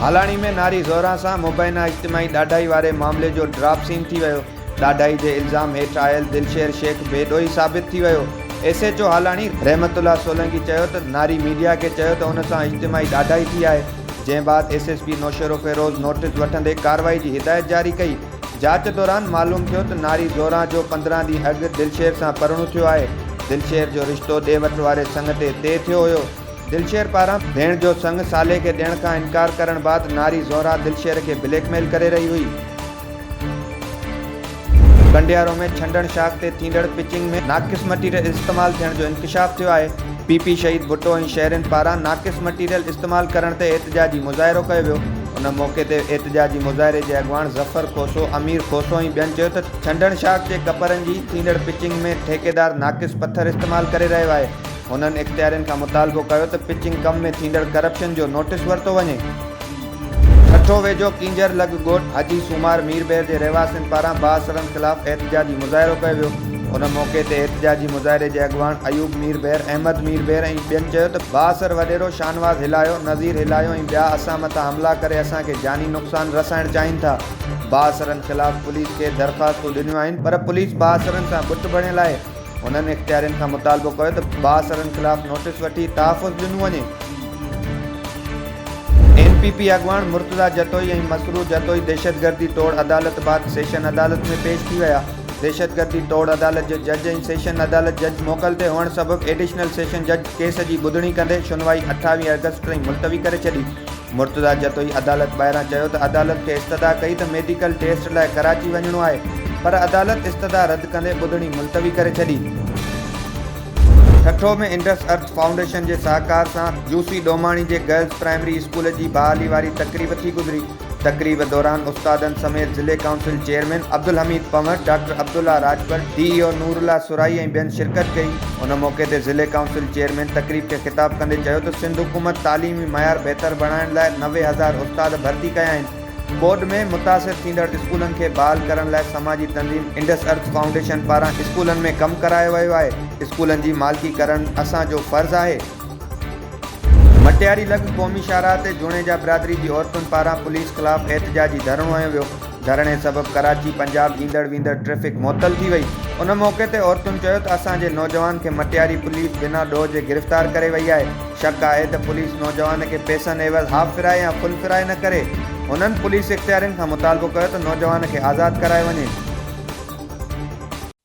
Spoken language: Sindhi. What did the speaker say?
هالاڻي ۾ ناري زهرا سان مبينا اجتماعي ڏاڍائي واري معاملي جو ڊراپ سين ٿي ويو ڏاڍائي جي الزام هيٺ آيل دلشير شيخ بي ڏوهي ثابت ٿي ويو، S H O Halani Rahmat Ullah Solangi چيو ته ناري ميڊيا کي چيو ته ان سان اجتماعي ڏاڍائي ٿي آهي، جنهن بعد S S P Naushahro Feroze notice وٺندي ڪارروائي جي هدايت جاري ڪئي، جاچ دوران معلوم ٿيو ته ناري زوران جو پندرهن ڏينهن اڳ دلشير سان پرڻو ٿيو آهي، دلشير جو رشتو ڏي وٺ واري سڱ تي طئي ٿيو هيو، دلشير پاران ڀيڻ جو سڱ صالح کي ڏيڻ کان انڪار ڪرڻ بعد ناري زهرا دلشير کي بليڪ ميل ڪري رهي هئي. ڪنڊيارو ۾ ڇنڊڻ شاخ تي ٿيندڙ پچنگ ۾ ناقص مٽيريل استعمال ٿيڻ جو انڪشاف ٿيو آهي، پي پي شهيد ڀٽو ۽ شهرين پاران ناقص مٽيريل استعمال ڪرڻ تي احتجاجي مظاهرو ڪيو ويو، ان موقعي تي احتجاجي مظاهري جي اڳواڻ ظفر کوسو، امير کوسو ۽ ٻين چيو ته ڇنڊڻ شاخ جي ڪپرن جي ٿيندڙ پچنگ ۾ ٺيڪيدار ناقص پٿر استعمال ڪري رهيو آهي، هنن اختيارين کان مطالبو ڪيو ته پچنگ ڪم ۾ ٿيندڙ ڪرپشن جو نوٽيس ورتو وڃي. ٺٽو ويجهو ڪينجهر لڳ ڳوٺ حاجي سومار مير بحر جي رهواسين پاران بااثرن خلاف احتجاجي مظاهرو ڪيو ويو ان موقعي تي احتجاجي مظاهري جي اڳواڻ ايوب مير بحر احمد مير بحر ۽ ٻين چيو ته بااثر وڏيرو شانواز هلايو نظير هلايو ۽ ٻيا اسان مٿان حملا ڪري اسان کي جاني نقصان رسائڻ چاهين ٿا بااثرن خلاف پوليس کي درخواستون ڏنيون آهن پر پوليس بااثرن سان بت بڻيل آهي انهن اختيارين کان مطالبو ڪيو ته بااثرن خلاف نوٽيس وٺي تحفظ ڏنو وڃي. ايم پي پي اڳواڻ مرتضيٰ جتوئي ۽ مسرور جتوئي دهشتگردي ٽوڙ عدالت بعد سيشن عدالت ۾ پيش ٿي ويا. دهشتگردي ٽوڙ عدالت جي جج ۽ سيشن عدالت جج موڪل تي هئڻ سبب ايڊيشنل سيشن جج ڪيس جي ٻڌڻي ڪندي شنوائي اٺاويهه آگسٽ تائين ملتوي ڪري ڇڏي. مرتضيٰ جتوئي عدالت ٻاهران چيو ته عدالت کي استدعا ڪئي ته ميڊيڪل ٽيسٽ لاء ڪراچي وڃڻو آهي پر عدالت استدعا رد ڪندي ٻڌڻي ملتوي ڪري ڇڏي. ٺٽو ۾ انڊس ارٿ فائونڊيشن جي سهڪار سان جوسي ڏوماڻي جي گرلز پرائمري اسڪول جي بحالي واري تقريب ٿي گذري، تقريب دوران استادن سميت ضلعي council chairman Abdul Hameed Panhwar, doctor Abdullah Rajpar, D E O Noorullah Sarai ۽ ٻين شرڪت ڪئي. ان موقعي تي ضلعي ڪائونسل چيئرمين تقريب کي خطاب ڪندي چيو ته سنڌ حڪومت تعليمي معيار بهتر بڻائڻ لاء نوي هزار استاد ڀرتي ڪيا آهن، ٻوڏ ۾ متاثر ٿيندڙ اسڪولن کي بحال ڪرڻ لاء سماجي تنظيم انڊس ارٿ فائونڊيشن پاران اسڪولن ۾ ڪم ڪرايو ويو آهي، اسڪولن جي مالڪي ڪرڻ اسان جو فرض آهي. مٽياري لڳ قومي شاهراهه تي جوڻيجا برادري جي عورتن پاران پوليس خلاف احتجاجي ڌرڻو هنيو ويو. ڌرڻي سبب ڪراچي پنجاب ايندڙ ويندڙ ٽريفڪ معطل ٿي وئي، ان موقعي تي عورتن چيو ته اسان جي نوجوان کي مٽياري پوليس بنا ڏوهه جي گرفتار ڪري وئي آهي، شڪ آهي ته پوليس نوجوان کي پيسن عيوض هاف فرائي يا فل فرائي نه ڪري، هنن پوليس اختيارين کان مطالبو ڪيو ته نوجوان کي آزاد ڪرايو وڃي.